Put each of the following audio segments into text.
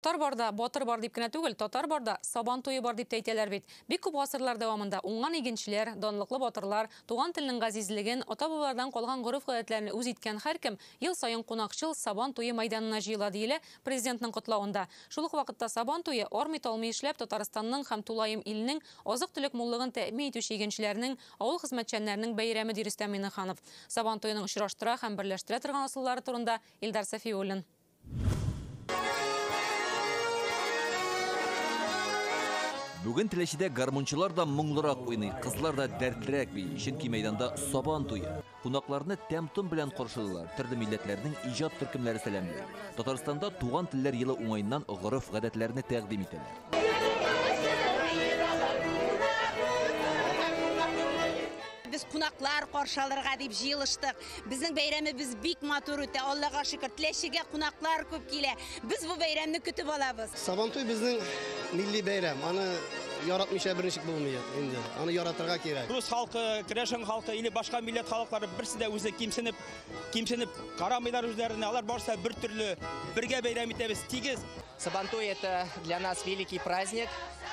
Тар бар да, батыр бар дип кенә түгел, татар бар да, сабан туе бар дип тә әйтәләр бит. Бик күп гасырлар дәвамында уңган игенчеләр, данлыклы батырлар, туган телнең газизлеген, ата-бабалардан калган гореф-гадәтләрне үз иткән һәркем ел саен кунакчыл Сабан туе мәйданына җыела, диелә Президентның котлавында. Шул ук вакытта Сабан туе, армый-талмый эшләп, Татарстанның һәм тулаем илнең азык-төлек муллыгын тәэмин итүче игенчеләрнең, авыл хезмәтчәннәренең бәйрәме, ди Рөстәм Миңнеханов. Сабан туеның очраштыра һәм берләштерә торган ысуллары турында Илдар Сафиуллин. Бүген Теләчедә гармунчылар да моңлырак уйный, кызлар да дәртлерәк бии, чөнки мәйданда Сабан туе. Кунакларны тәм-том белән каршылыйлар, төрле милләтләрнең иҗат төркемнәре сәламли. Татарстанда туган телләр елы уңаеннан гореф-гадәтләрне тәкъдим итәләр. Без кунаклар каршы алырга дип җыелыштык. Безнең бәйрәмебез бик матур үтә, Аллага шөкер. Теләчегә кунаклар күп килә. Без бу бәйрәмне көтеп алабыз. Сабантуй безнең милли бәйрәм. Аны яратмыйча бер ничек булмый инде. Аны яратырга кирәк. Рус халкы, керәшен халкы или башка милләт халыклары берсе дә үзе кимсенеп, кимсенеп карамыйлар үзләренә. Алар барысы бер төрле, бергә бәйрәм итәбез, тигез. Сабантуй это для нас великий праздник.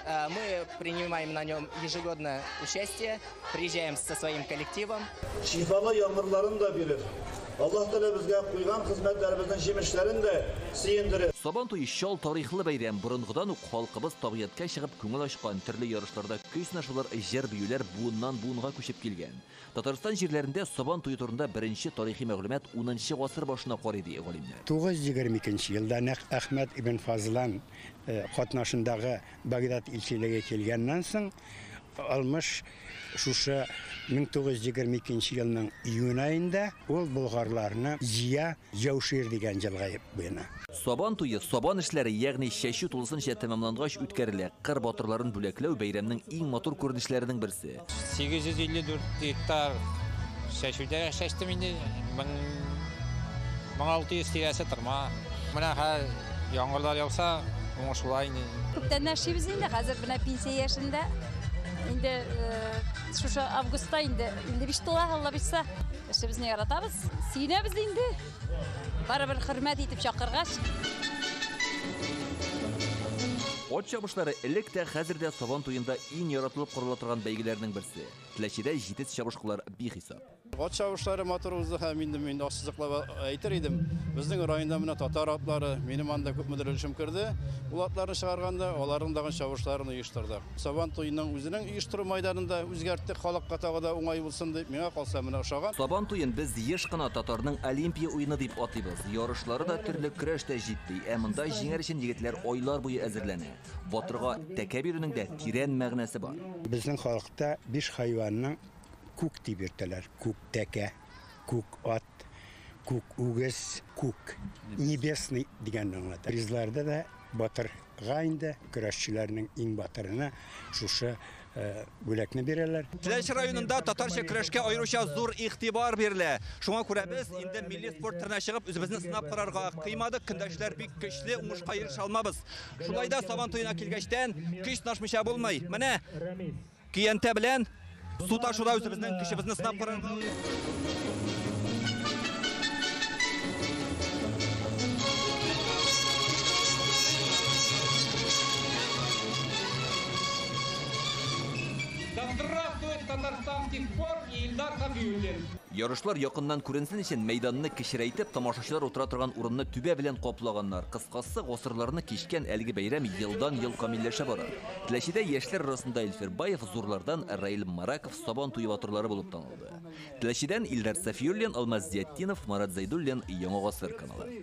Э, мы принимаем на нем ежегодно участие, приезжаем со своим коллективом. Шифалы яңгырларын да бирер. Аллаһ Тәгалә безгә куйган хезмәтләребезнең җимешләрен дә сөендерер. Сабан туе чал тарихлы бәйрәм. Борынгыдан ук халкыбыз табигатькә чыгып күңел ачкан, төрле ярышларда көй сынашулар, җыр-биюләр буыннан буынга күчеп килгән. Татарстан җирләрендә Сабан туе турында беренче тарихи мәгълүмат унынчы гасыр башына карый, ди галимнәр. 922 нче елда нәкъ Әхмәт ибн Фазлан катнашындагы Багдад илчелеге килгәннән соң, Алмыш шушы 922 нче елның июнь аенда ул болгарларны җыя Җәүшир дигән җылга буена. Сабан туе, сабан эшләре, ягъни чәчү тулысынча тәмамлангач үткәрелә. Кыр батырларын бүләкләү, бәйрәмнең иң матур күренешләренең берсе. 854 гектар чәчүдә чәчтем инде, 1600 тирәсе тырма. Менә хәзер яңгырлар яуса, уңыш була инде. Күптән эшлибез инде, хәзер менә пенсия яшендә. Инде шушы августта инде 55 тула, Аллабирса. Эшебезне яратабыз, сөенәбез инде. Барыбер хөрмәт итеп чакыргач. Ат чабышлары элек тә, хәзер дә Сабан туенда иң яратылып карала торган бәйгеләрнең берсе. Теләчедә җитез чабышкылар бихисап. Ат чабышлары матур узды һәм инде мин дә ассызыклап әйтер идем, безнең районда менә татар атлары, минем анда күпмедер өлешем керде. Ул атларны чыгарганда, аларның тагын чабышларын оештырдык. Сабан туеның үзенең оештыру майданын да үзгәрттек, халыкка тагы да уңай булсын дип. Миңа калса менә ошаган. Сабан туен без еш кына татарның Олимпия уены дип атыйбыз. Ярышлары да, төрле көрәш тә җитди. Ә монда җиңәр өчен егетләр айлар буе әзерләнә. Батырга тәкә бирүнең дә тирән мәгънәсе бар. Безнең халыкта биш хайванның күк дип йөртәләр, күк тәкә, күк ат. Ат, күк үгез, күк, небесный дигәнне аңлата. Призларда да батырга инде көрәшчеләрнең иң батырына шушы э, бүләкне бирәләр. Теләч районында татарча көрәшкә аеруча зур игътибар бирелә. Шуңа күрә без инде милли спорт төренә чыгып, үзебезне сынап карарга кыймадык. Көндәшләр бик көчле, уңышка ирешә алмабыз. Шулай да Сабан туена килгәчтән, көч сынашмыйча булмый. Менә Көянтә белән су ташуда үзебезнең көчебезне сынап карарга. Да здравствует татарстанский спорт и Ильдар Хабиуллин! Ярышлар якыннан күренсен өчен мәйданны кечерәйтеп, тамашачылар утыра торган урынны түбә белән каплаганнар. Кыскасы, гасырларны кичкән әлеге бәйрәм елдан-ел камилләшә бара. Теләчедә яшьләр арасында Илфир Баев, зурлардан Раил Мараков Сабан туе батырлары булып танылды. Теләчедән Илдар Сафиуллин, Алмаз Зиятдинов, Марат Зәйдуллин, Яңа гасыр каналы.